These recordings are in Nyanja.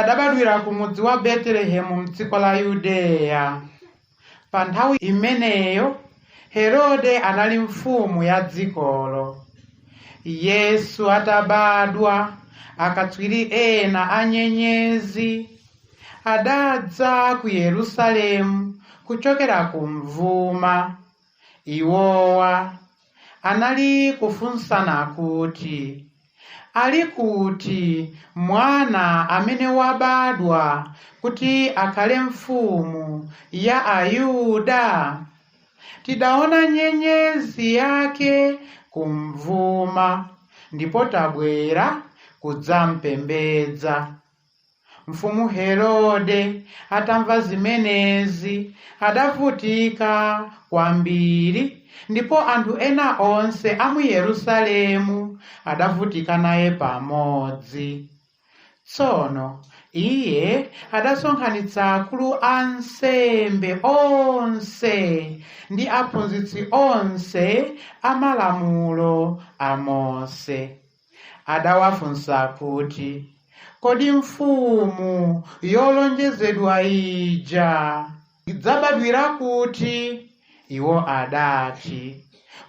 Adabadwira ku mudzi wa Betelehemu m'dziko la Yudeya. Pa nthawi imeneyo Herode anali mfumu ya dzikolo. Yesu atabadwa, akatswiri ena a nyenyezi adadza ku Yerusalemu kuchokera kumvuma. Iwowa anali kufunsana kuti, Ali kuti Mwana amene wabadwa kuti akhale Mfumu ya Ayuda? Tidaona nyenyezi yake kumvuma, ndipo tabwera kudzampembedza. Mfumu Herode atamva zimenezi adavutika kwambiri, ndipo anthu ena onse a mu Yerusalemu adavutika naye pamodzi. Tsono iye adasonkhanitsa akulu a ansembe onse ndi aphunzitsi onse a malamulo a Mose. Adawafunsa kuti, Kodi mfumu yolonjezedwa ija idzabadwira kuti? Iwo adati,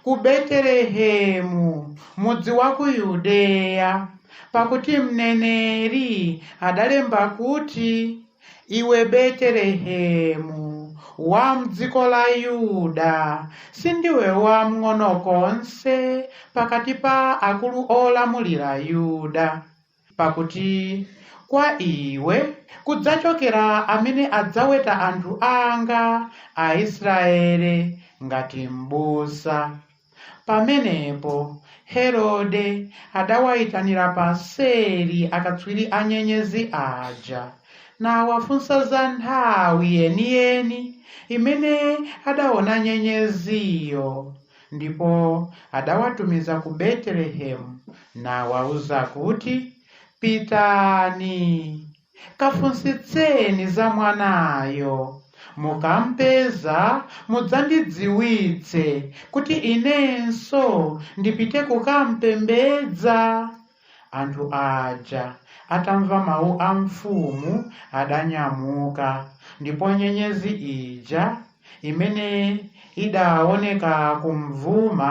Ku Betelehemu, mudzi wa ku Yudeya, pakuti mneneri adalemba kuti. Iwe Betelehemu wa m'dziko la Yuda, sindiwe wamng'ono konse pakati pa akulu olamulira Yuda, pakuti kwa iwe kudzachokera amene adzaweta anthu anga Aisraele ngati m'busa. Pamenepo Herode adawaitanira paseri akatswiri a nyenyezi aja, nawafunsa za nthawi yeniyeni imene adaona nyenyeziyo. Ndipo adawatumiza ku Betelehemu, nawauza kuti, Pitani, Kafunsitseni za mwanayo. Mukam'peza mudzandidziwitse kuti inenso ndipite kukam'pembedza. Anthu aja atamva mawu a mfumu adanyamuka, ndipo nyenyezi ija imene idaoneka kumvuma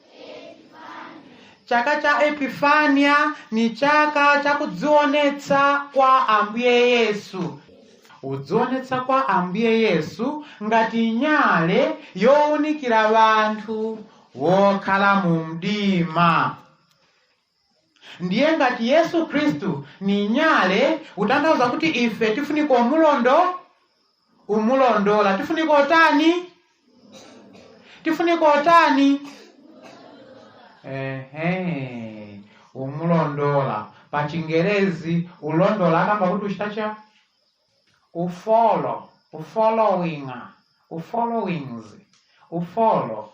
chaka cha epifania ni chaka cha kudzionetsa kwa ambuye yesu kudzionetsa kwa ambuye yesu ngati nyale yowunikira wanthu wokhala mu mdima ndiye ngati yesu khristu ni nyale utanthauza kuti ife tifunika umulondo umulondola tifunika otani tifunika otani ehe umulondola pa chingerezi ulondola akamba kuti uchita chani ufolo ufollowinga ufollowings ufolo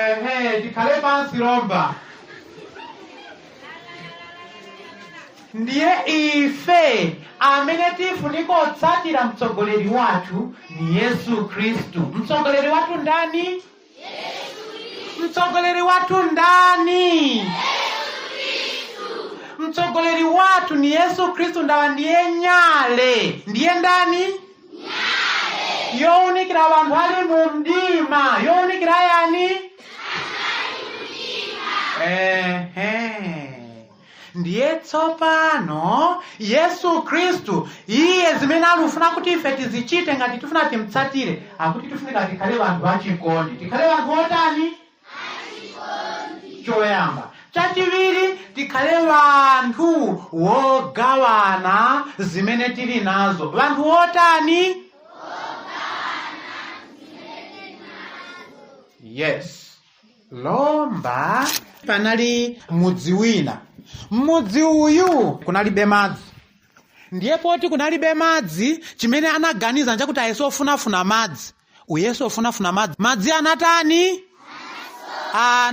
ehe tikhale pansi lomba ndiye ife amene tifunika otsatira mtsogoleri wathu ni yesu khristu mtsogoleri wathu ndani mtsogoleri wathu ndani mtsogoleri wathu ni yesu khristu ndawa ndiye nyale ndiye ndani younikira vanthu ali mu mdima younikira yani Ehe. ndiye tsopano yesu khristu iye zimene alufuna kuti ife tizichite ngati tifuna timtsatire akuti tifunika tikhale vanthu vachikondi tikhale vanthu otani choyamba chachiwiri tikhale vanthu wogawana zimene tili nazo vanthu wotani yes lomba panali mudzi wina mmudzi uyu kunalibe madzi ndiye poti kunalibe madzi chimene anaganiza nchakuti ayese ofunafuna madzi uyesa ofunafuna madzi madzi anatani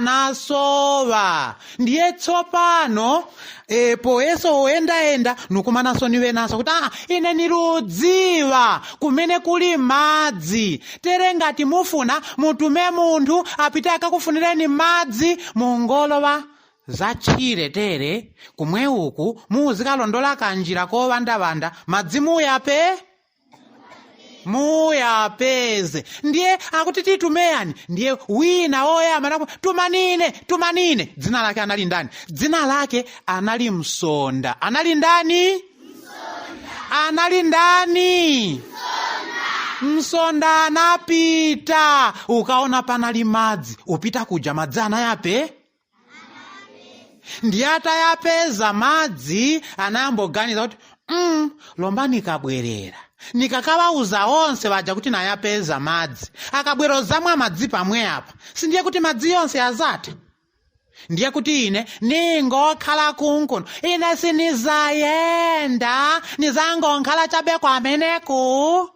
anasowa ndiye tsopano e, poyesa oyendayenda nukumanaso niwenaso kuti aa ine niludziwa kumene kuli madzi tere ngati mufuna mutume munthu apite akakufunireni madzi mungolowa zatchire tere kumwe uku muzikalondola kanjira kowandawanda madzi muyape muyapeze ndiye akuti titumeyani ndiye wina woyamba nakuti tumanine tumanine dzina lake anali ndani dzina lake anali msonda anali ndani anali ndani msonda anapita ukaona penali madzi upita kuja madzi anayape ndiye atayapeza madzi anayamboganiza kuti mm, lomba nikabwerera nikakawauza onse vaja kuti nayapeza madzi akabwera ozamwa madzi pamwe apa sindiye kuti madzi yonse azatha ndiye kuti ine ningokhala kunkuno ine sinizayenda nizangokhala chabe kwameneku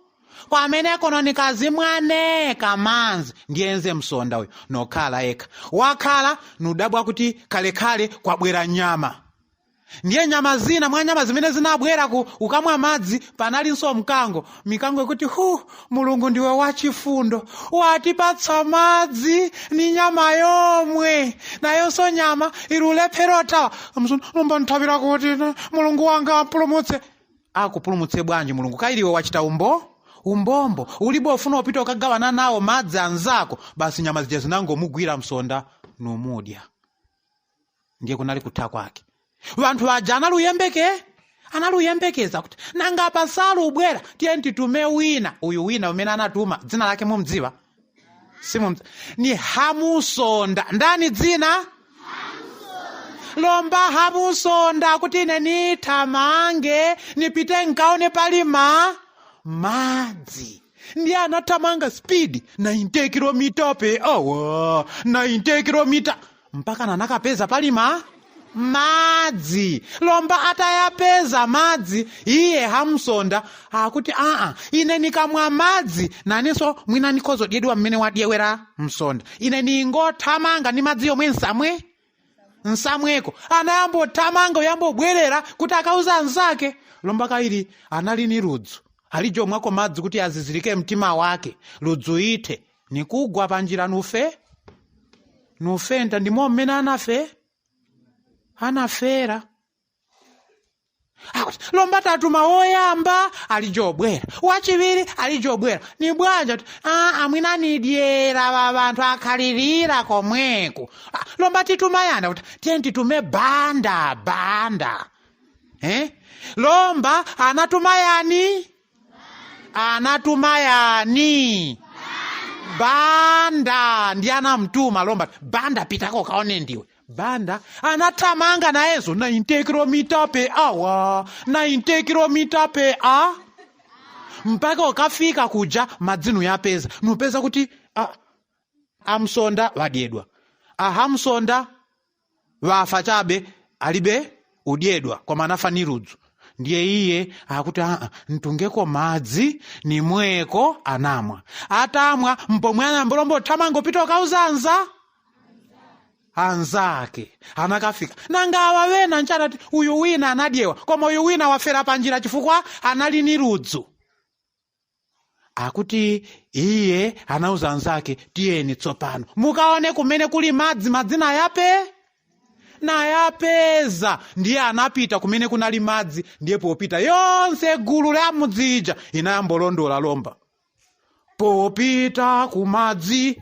kwameneko nikazimwa neka manzi ndiye enze msonda uyu nokhala yekha wakhala nudabwa kuti khalekhale kwabwera nyama ndiye nyama zina mwa nyama zimene zinabwera ku ukamwa madzi panalinso mkango mikango ikuti hu mulungu ndiwe wachifundo watipatsa madzi ni nyama yomwe nayonso nyama ilulephera othawa msonda lomba nthavira kuti mulungu wanga wampulumutse akupulumutse bwanji mulungu kaili iwe wachita umbo umbombo ulibe ufuna upita ukagawana nawo madzi anzako basi nyama zija zinangomugwira msonda numudya ndiye kunali kutha kwake vanthu waja anali uyembeke anali uyembekeza kuti nanga pasali ubwera tiyeni titume wina uyu wina umene anatuma dzina lake mumdziwa simu ni hamusonda ndani dzina lomba hamusonda kuti ine nithamange nipite nkaone pali ma madzi ndiye anathamanga speed 90 kilomita pe awa 90 kilomita mpaka nanakapeza pali ma madzi lomba atayapeza madzi iye hamsonda akuti aa ine nikamwa madzi nanenso mwina nikhozodyedwa mmene wadyewera msonda ine ningothamanga ni madzi yomwe nsamwe nsamweko anayambothamanga uyambobwerera kuti akauza anzake lomba kaili anali ni ludzu alijomwako madzi kuti azizirike mtima wake ludzu ithe nikugwa panjira nufe nufenta ndimo mmene anafe anafera akuti lomba tatuma woyamba ali jobwera wachiwiri ali jobwera ni bwanji akuti "Ah, amwina nidyera va vanthu akhalirira komweko Ah, lomba tituma yani akuti tiyeni titume banda banda eh? lomba anatuma yani anatuma yani banda ndi anamtuma lomba banda pitako kaone ndiwe banda anathamanga nayenso 90 kilomita pe awa 90 kilomita pe awa mpaka ukafika kuja madzi nuyapeza nupeza kuti a, amsonda wadyedwa ahamsonda wafa chabe alibe udyedwa koma anafa ni ludzu ndiye iye akuti aa ntungeko madzi nimweko anamwa atamwa mpomwe anambo lombo thamango pita ukauza anza anzake anakafika nanga awa wena nchatati uyu wina anadyewa koma uyu wina wafera panjira chifukwa anali ni ludzu akuti iye anauza anzake tiyeni tsopano mukaone kumene kuli madzi madzi nayape nayapeza ndiye anapita kumene kunali madzi ndiye popita yonse gulu la mudzija inayambolondola lomba popita kumadzi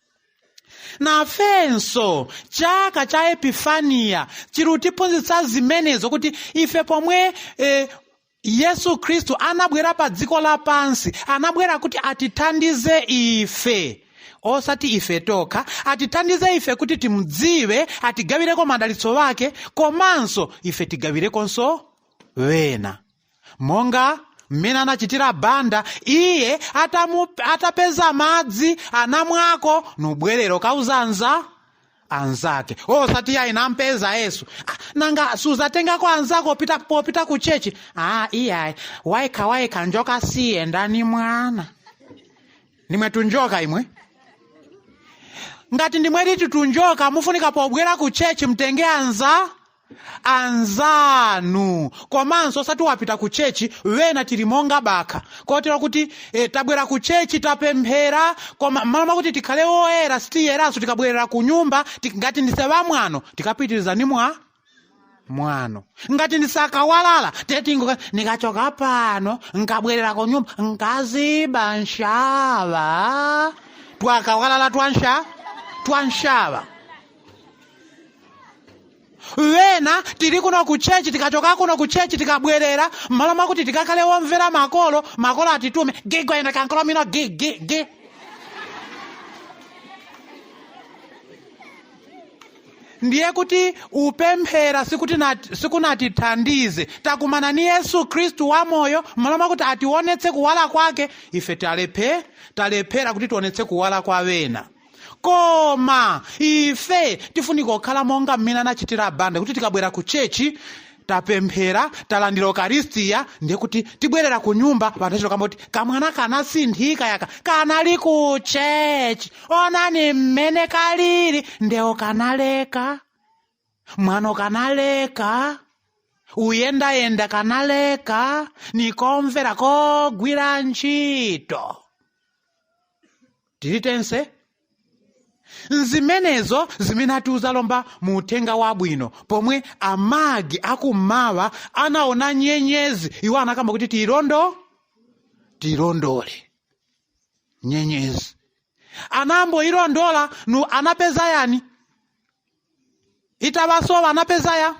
nafenso chaka cha epifaniya chirutiphunzitsa zimenezo kuti ife pomwe eh, yesu khristu anabwera pa dziko lapansi anabwera kuti atithandize ife osati ife tokha atithandize ife kuti timudziwe atigawireko madalitso wake komanso ife tigawirekonso wena monga mmene anachitira banda iye atamu, atapeza madzi anamwako nubwerero kauza anza anzake osati ayi nampeza yesu ah, nanga suzatengako anzako pita, popita ku chechi ah, iyayi wayekha wayekha njoka siyenda ni mwana nimwe tunjoka imwe ngati ndimwe liti tunjoka mufunika pobwera ku chechi mtenge anza anzanu komanso osati wapita ku chechi wena tili monga bakha kotero kuti e, tabwera ku chechi tapemphera koma mmalo mwakuti tikhale woyera sitiyeranso tikabwerera ku nyumba ti- ngati ndise wamwano tikapitiriza ni mwa mwano ngati ndise akawalala tetingo nikachoka pano nkabwerera ku nyumba nkaziba nshawa twakawalala twansha twanshawa wena tili kuno ku chechi tikachoka kuno ku chechi tikabwerera mmalo mwakuti tikakhale womvera makolo makolo atitume gigwa ina kankolomino gi gi gi ndiye kuti upemphera sikuti nat- sikunatithandize takumana ni yesu khristu wamoyo mmalo mwakuti atiwonetse kuwala kwake ife talephe talephera kuti tionetse kuwala kwa wena koma ife tifunika kukhala monga mmene anachitira banda kuti tikabwera ku chechi tapemphera talandira ukaristiya ndiye kuti tibwerera ku nyumba wanthu achito kamba kuti kamwana kanasinthika yaka kanali ku chechi onani mmene kalili ndewo kanaleka mwano kanaleka uyendayenda kanaleka nikomvera kogwira ntchito tili tense nzimenezo zimene atiuza lomba mu uthenga wabwino pomwe amagi akummawa anaona nyenyezi iwo anakamba kuti tiilondo tiilondole nyenyezi anamboilondola nu anapeza yani itawasowa anapeza ya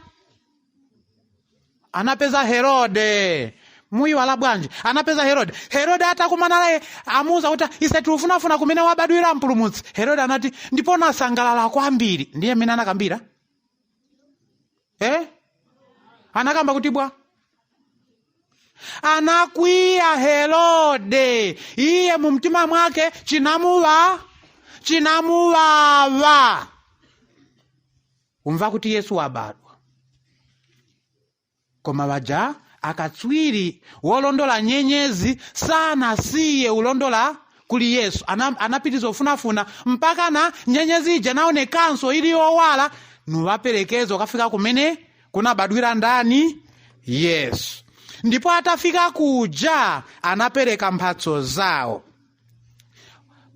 anapeza herode muiwala bwanji anapeza herode herode atakumana naye amuuza kuti ise tuufunafuna kumene wabadwira mpulumutsi herode anati ndipo nasangalala kwambiri ndiye mmene anakambira eh? anakamba kuti bwa anakwiya herode iye mu mtima mwake chinamuwa chinamuwawa umva kuti yesu wabadwa koma waja akatswiri wolondola nyenyezi sanasiye ulondola kuli yesu Ana- anapitiriza ufunafuna mpaka na nyenyezi ija naonekanso ili yowala nuwaperekeza ukafika kumene kunabadwira ndani yesu ndipo atafika kuja anapereka mphatso zawo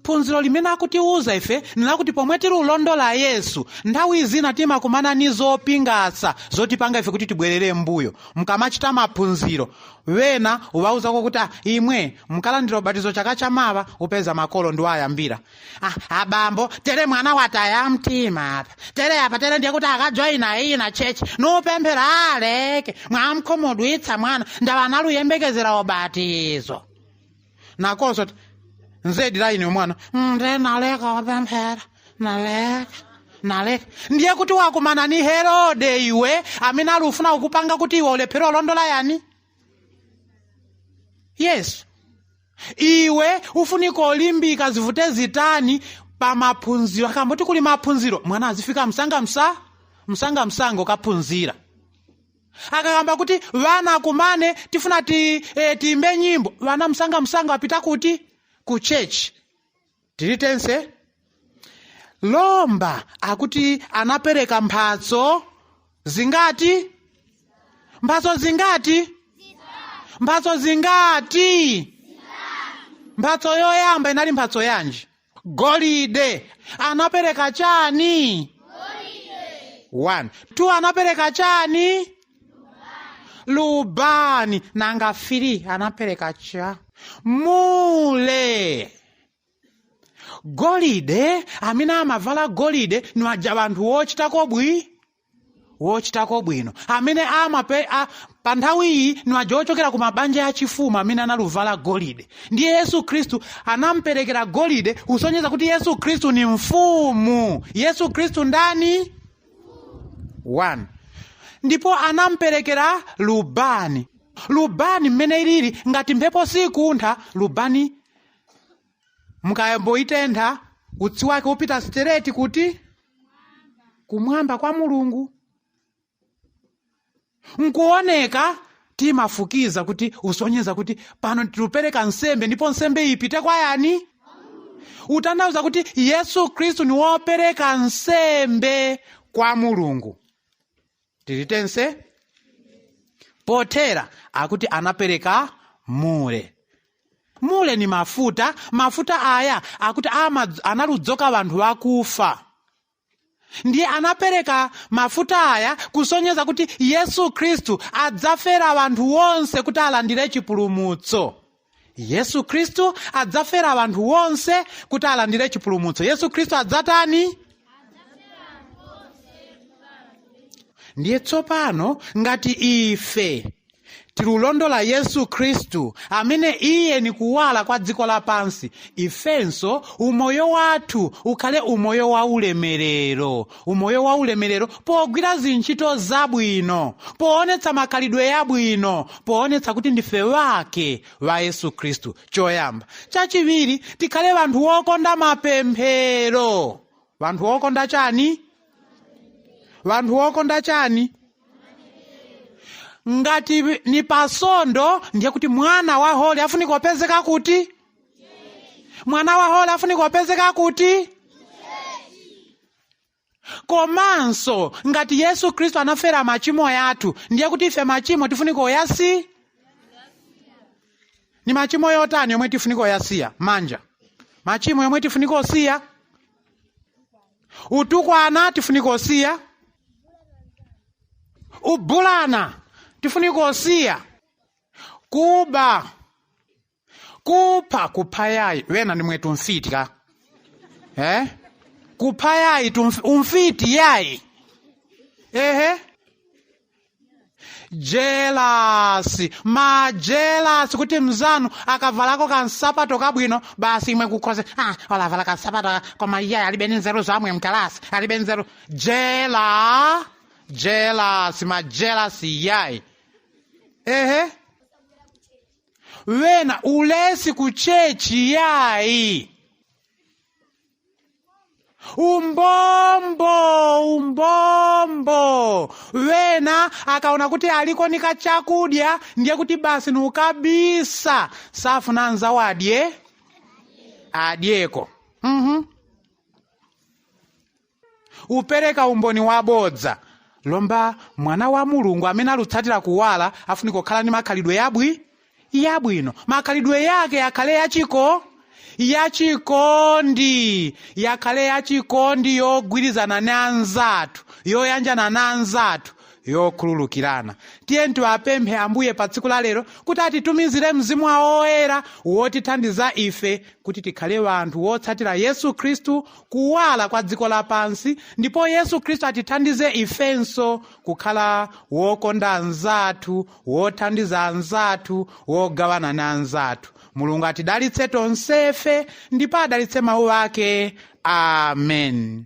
phunziro limene akutiuza ife nilakuti pomwe tili ulondola yesu nthawi zina timakumana ni zopingasa zotipanga ife kuti tibwerere mbuyo mkamachita maphunziro wena uwauzako kuti "Ah, imwe mkalandira ubatizo chaka chamawa upeza makolo ndiwo ayambira Ah, abambo tere mwana wataya mtima apa tere apa tere ndiye kuti akajoyina iyina chechi nupemphera aleke mwamkhumudwitsa mwana ndawa analuyembekezera ubatizo nakonso ti nzedi la ine mwana "Mm, nde naleka upemphera naleka naleka ndiye kuti wakumana ni herode iwe amene ali ufuna kukupanga kuti iwe ulephere ulondola yani yesu iwe ufunika ulimbika zivute zitani pa maphunziro akamba kuti kuli maphunziro mwana azifika msanga msa msanga msanga ukaphunzira akakamba kuti vana akumane tifuna ti, e, tiimbe nyimbo vana msanga msanga apita kuti ku chechi tili tense lomba akuti anapereka mphatso zingati mphatso zingati mphatso zingati mphatso yoyamba inali mphatso yanji golide anapereka chani one two anapereka chani lubani nanga fili anapereka cha mule golide amene amavala golide ni waja banthu wochitako bwi wochitako bwino amene amape a, pa nthawi iyi ni waja ochokera ku mabanja ya chifumu amene analuvala golide ndiye yesu khristu anamperekera golide kusonyeza kuti yesu khristu ni mfumu yesu khristu ndani 1 ndipo anamperekera lubani lubani mmene ilili ngati mphepo sikuntha lubani mukayamba uitentha utsi wake upita straight kuti kumwamba kwa mulungu nkuoneka timafukiza kuti usonyeza kuti pano tilupereka nsembe ndipo nsembe ipite kwa yani utanthauza kuti yesu khristu ni wopereka nsembe kwa mulungu tili tense pothera akuti anapereka mure mure ni mafuta mafuta aya akuti analudzoka vanthu vakufa ndiye anapereka mafuta aya kusonyeza kuti yesu khristu adzafera vanthu wonse kuti alandire chipulumutso yesu khristu adzafera wanthu wonse kuti alandire chipulumutso yesu khristu adzatani ndiye tsopano ngati ife tilulondola yesu khristu amene iye ni kuwala kwa dziko lapansi ifenso umoyo wathu ukhale umoyo wa ulemerero umoyo wa ulemerero pogwira zintchito zabwino poonetsa makhalidwe yabwino poonetsa kuti ndife wake wa yesu khristu choyamba chachiwiri tikhale vanthu wokonda mapemphero vanthu wokonda chani vanthu wokonda chani ngati ni pasondo ndiye kuti mwana wa holi afunika kupezeka kuti mwana wa holi afunika kupezeka kuti komanso ngati yesu khristu anafera machimo yathu ndiye kuti ife machimo tifunika uyasi ni machimo yotani yomwe tifunika uyasiya manja machimo yomwe tifunika usiya utukwana tifunika usiya ubulana tifunika usiya kuba kupha kupha yayi wena ni mwetu mfiti ka eh? kupha yayi tumf- umfiti yayi ehe jelasi majelasi kuti mzanu akavalako kansapato kabwino basi imwe kukhoze ah, olavala kansapato ka- koma iye alibe ni nzeru zamwe mkalasi alibe nzeru jela jelasi majelasi yayi ehe wena ulesi ku chechi yayi umbombo umbombo wena akaona kuti aliko ni kachakudya ndiye kuti basi ni ukabisa safuna anzawo adye adyeko mm-hmm. upereka umboni wabodza lomba mwana wa mulungu amene alutsatira kuwala afunika kukhala ni makhalidwe yabwi yabwino makhalidwe yake yakhale yachiko yachikondi yakhale yachikondi yogwirizana ndi anzathu yoyanjana ndi anzathu yokhululukirana tiyeni tiwapemphe ambuye pa tsiku la lero kuti atitumizire mzimu wawo woyera wotithandiza ife kuti tikhale wanthu wotsatira yesu khristu kuwala kwa dziko lapansi ndipo yesu khristu atithandize ifenso kukhala wokonda anzathu wothandiza anzathu wogawana ni anzathu mulungu atidalitse tonsefe ndipo adalitse mawu ake amen